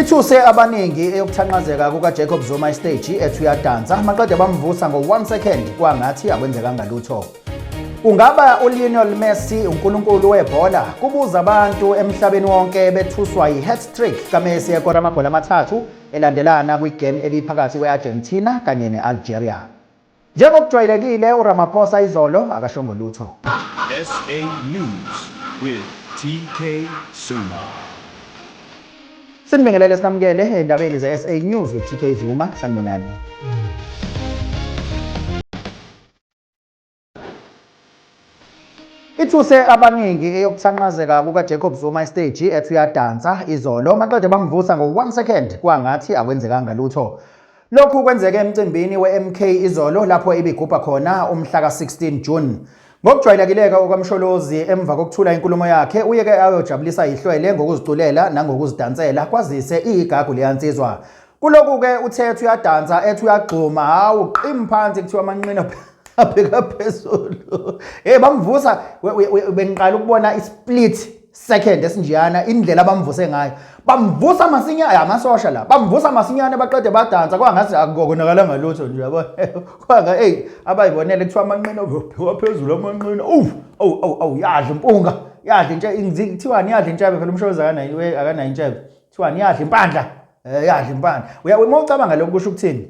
Ithuse abaningi eyokuthanqazeka kukaJacob Zuma isteji ethi uyadansa maqede bamvusa ngo-1 second kwangathi akwenzekanga lutho. Ungaba uLionel Messi unkulunkulu webhola kubuza abantu emhlabeni wonke bethuswa yi-hat-trick kaMessi ekora amagoli amathathu elandelana kwigame ebiphakathi kwe-Argentina kanye ne-Algeria. Njengokujwayelekile uRamaphosa izolo akashongo lutho. SA News with TK Zuma. Sinibingelele sinamukele endabeni zeSA News with TK Zuma. Sanibonani. Ithuse abaningi eyokuthanqazeka kukaJacob Zuma esteji ethi uyadansa izolo maqede bamvusa ngo-one second kwangathi akwenzekanga lutho. Lokhu kwenzeke emcimbini we-MK izolo lapho ibigubha khona umhla ka-16 June. Ngokujwayelekileke okaMsholozi emva kokuthula inkulumo yakhe uyeke ayojabulisa ihlwele ngokuziculela nangokuzidansela kwazise iyigagu leyansizwa. Kuloku-ke uthe ethi uyadansa ethi uyagxuma hawu qim phansi kuthiwa amanqina abheka phezulu hey bamvusa bengiqala ukubona isplit second esinjeyana indlela abamvuse ngayo bamvusa masinyane amasosha la bamvusa masinyane baqede badansa kwangathi akukonakala ngalutho nje yabo kwanga hey abayibonele kuthiwa amanqina obheka phezulu amanqina uw aw aw aw yadla impunga yadla intshe kuthiwani yadla intshebe phela umshoza akanayo akanayo intshebe kuthiwani yadla impandla Eh yadla impande. Uya uma ucabanga lokho kusho ukuthini?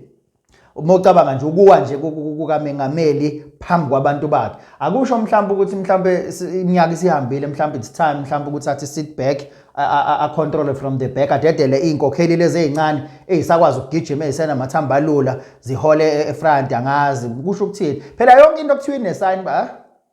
Uma ucabanga nje ukuwa nje kukaMengameli phambi kwabantu bakhe. Akusho mhlawumbe ukuthi mhlawumbe iminyaka isihambile mhlawumbe it's time mhlawumbe ukuthi athi sit back a control from the back adedele izinkokheli lezi ezincane ezisakwazi ukugijima ezisena mathamba lula zihole e-, efront angazi kusho ukuthini. Phela yonke into okuthiwa inesign ba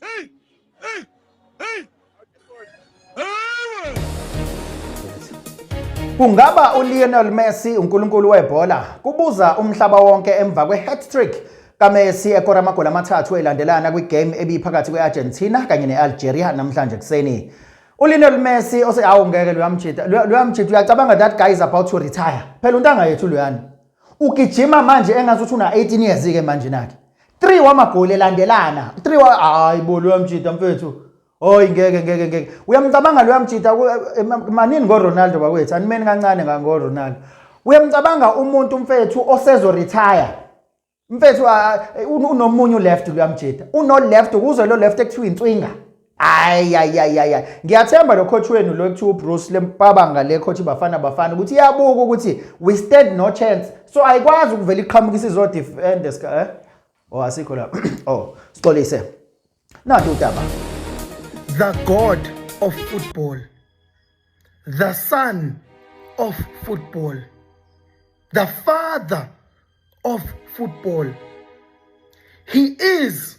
Hey! Hey! Hey! Kungaba uLionel Messi unkulunkulu webhola kubuza umhlaba wonke emva kwe-hat-trick kaMessi ekora amagoli amathathu elandelana kwigame ebiphakathi kwe-Argentina kanye ne-Algeria namhlanje kuseni. ULionel Messi ose awu ngeke luyamjita luyamjita uyacabanga that guy is about to retire. Phela untanga yethu luyani. ugijima manje engathi uthi una 18 years ke manje nakhe 3 wamagoli elandelana 3 wa hayi bo lo yamjita mfethu Oy ngeke ngeke ngeke. Uyamcabanga lo yamjita eh, manini ngo Ronaldo bakwethu. Animeni kancane ngango Ronaldo. Uyamcabanga umuntu mfethu osezo retire. Mfethu eh, unomunye left lo yamjita. Uno left kuze lo left ekuthiwa inswinga. ayayayaya ngiyathemba lo coach wenu lo ekuthiwa ubruce lempabanga le coach bafana bafana ukuthi iyabuka ukuthi we stand no chance so ayikwazi ukuvela iqhamuka isizodefend eh? o oh, asikho la o oh, sixolise nanti udaba the god of football the son of football the father of football he is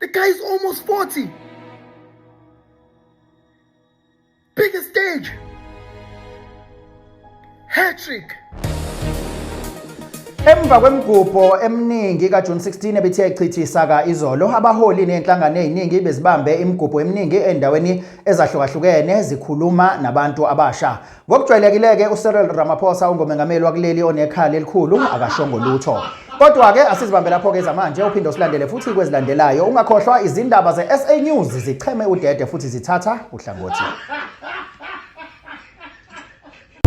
The guy is almost 40. Biggest stage. Hat trick. Emva kwemigubho eminingi kaJune 16 ebithi yayichithisa ka izolo, abaholi nezinhlangano eziningi bezibambe imigubho eminingi endaweni ezahlukahlukene zikhuluma nabantu abasha. Ngokujwayelekile-ke uCyril Ramaphosa ungomengameli wakuleli onekhala elikhulu akashongo lutho. Kodwa-ke asizibambe lapho-ke zamanje uphinde usilandele futhi kwezilandelayo. Ungakhohlwa izindaba ze-SA News zicheme udede futhi zithatha uhlangothi.